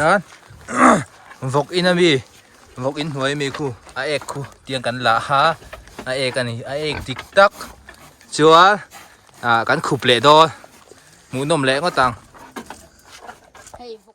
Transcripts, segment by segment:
hian vawk in ami vawk in hnuai ami khu a ek khu tiang kan la a a ek a ni a ek dik tak chuan ahh kan khup leh dawn hmuhnawm leh ngawt ang.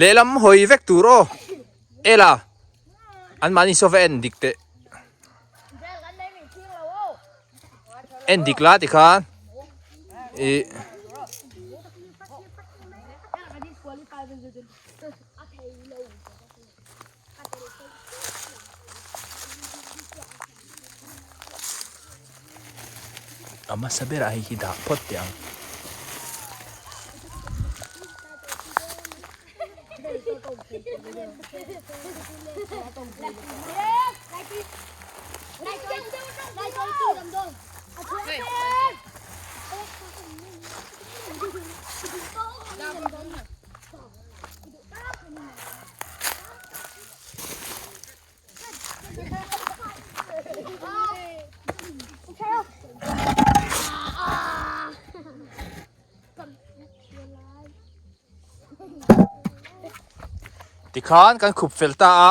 Lehlam hawi vek tur aw Ella an mahni saw va en dik teh En dik la ti khan i a hmasa berah hei hi dah phawt teh ang tikhan kan khup fel ta a.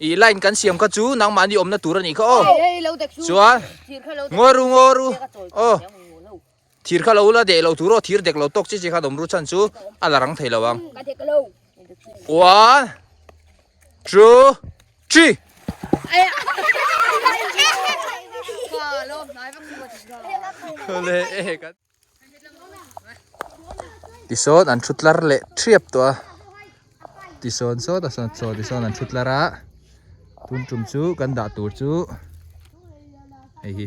I line kan siam kha chu nangmahni awmna tur a nih kha aw. Chuan ngawi ru ngaw ru aw. Thir kha lo la deh lo tur aw thir dek lo tawk chi chi kha awm ru chan chu a la rang thei lo ang. One two three. Khaw leh e. tisawn an thu tlar leh ṭhiap tawh a tisawn saw ta sawn chaw tisawn an thu tlar a tun tum chu kan dah tur chu hei hi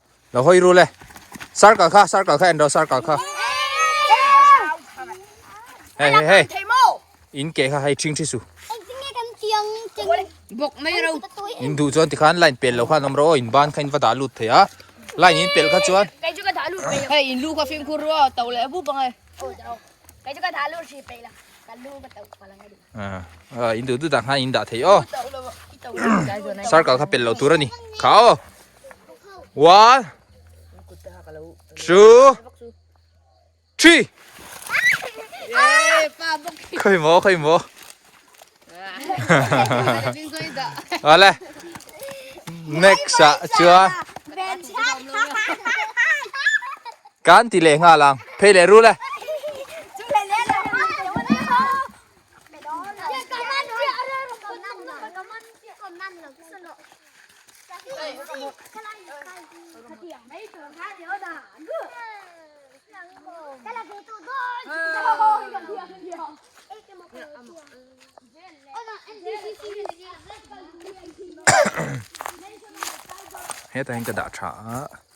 lo hoi ru le sar kal kha sar kal kha endo sar kal kha hey hey hey in ke kha hai ching thi su bok mai ro in du chuan ti khan line pel lo khan om ro in ban kha in va da lut thei a line in pel kha chuan kai chu ka da lut thei hey in lu kha fim khur ro to le bu bang ai kai chu ka da lut thei pe la ka lu ka to pa lang a in du du da khan in da thei o sar kal kha pel lo tur ani kha o one two three khawih maw khawih maw ale next a chuan kan ti leh nga lang phei leh ru le heta hian ka dah tha a.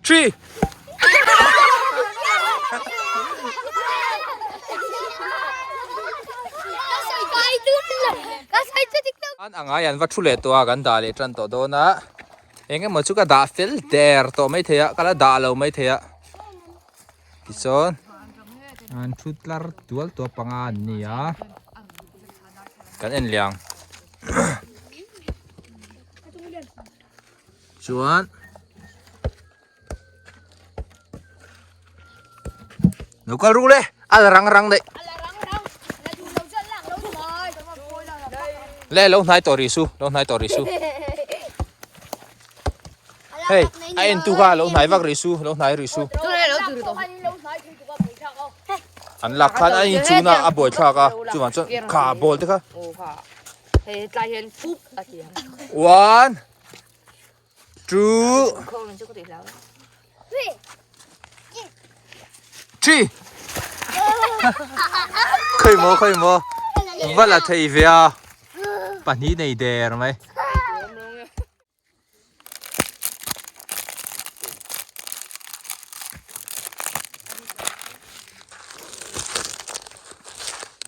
Three. An angai an va thu leh tawh a kan dah leh tan tawh dawn a eng emaw chu ka dah fel der tawh mai thei a kala dah lo mai thei a tichuan an thu tlar tual tawh panga an ni a kan en liang. Chuan Nokal ru le ala rang rang dai. Le lo hnai tori su, lo hnai tori su. Hey, a en tu ka lo hnai vak ri su, lo hnai ri su. An lak khan an in chuna a boy thlak a, chu ma chu kha bol te kha. Hey, tlai hian fup a tia. One. Two. Three. Khoi mo khoi mo. Vala thei via. Pani nei der mai.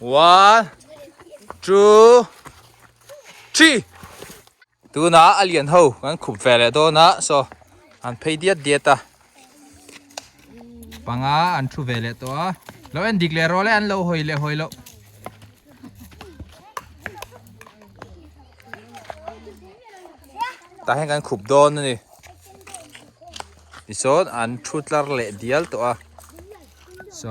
one two three tunah a lian ho kan khup ve leh dawn a so an phei diat diat a panga an thu ve leh tawh a lo en dik leh rawle an lo hawi leh hawi lo tah hian kan khup dawn a ni tichuan an thu tlar leh dial tawh a so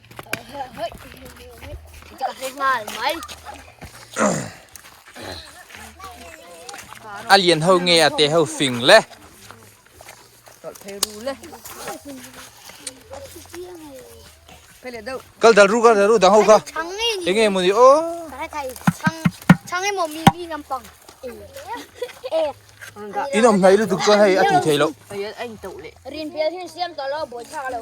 a lian ho nge a te ho fing le kal dal ru kal dal ru dang ho kha eng nge muni o chang emaw mi mi lampang in awm hnai lutuk chuan hei a ti thei loh rin bial hi siam tawh lo a bawi thlak lo.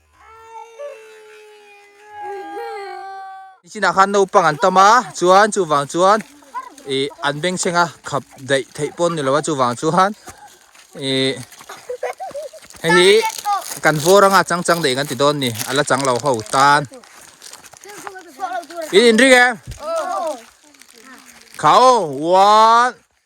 Chinah khan naupang an tam a, chuan chuvang chuan ih an bengchhenga khap daih theih pawh an ni lo a, chuvang chuan ih hei hi kan vawr anga chang chang daih kan ti dawn a ni, a la chang lo ho tan. In inring em? Kha aw one.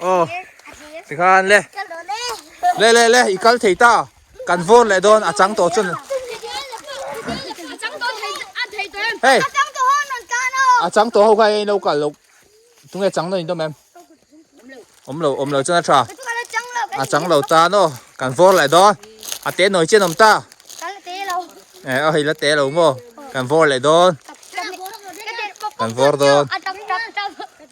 Aw, ti khan le. Le le le, i kal thei ta. Kan vawr leh dawn, a chang tawh chun. Hey, a chang tawh ho kha hei lo kal lo. Tunge chang dawn in dawn mem. Om lo, om lo chun a tha. A chang lo ta no, kan vawr leh dawn. A te noi chen om ta. Eh, a hei la te lo mo. Kan vawr leh dawn. Kan vawr dawn.